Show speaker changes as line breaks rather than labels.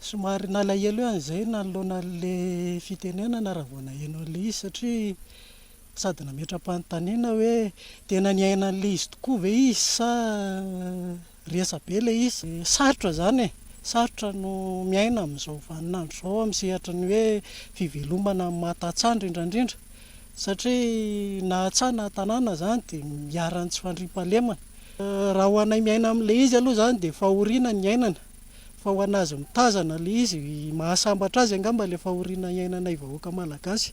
Somary
nalahelo ihany izay nanoloana an'ilay fitenenana raha vao naheno an'ilay izy satria sady nametra-panontaniana hoe tena niaina an'ilay izy tokoa ve izy sa resabe ilay izy. Sarotra izany e, sarotra no miaina amin'izao vanin'andro izao amin'ny sehatry ny hoe fivelomana amin'ny maha tantsaha indrindra indrindra satria na tsaha na tanàna izany dia iharan'ny tsy fandriampahalemana. Raha ho anay miaina amin'ilay izy aloha izany dia fahoriana ny iainana fa ho an'azy mitazana ilay izy, mahasambatra azy angamba ilay fahoriana iainanay vahoaka malagasy.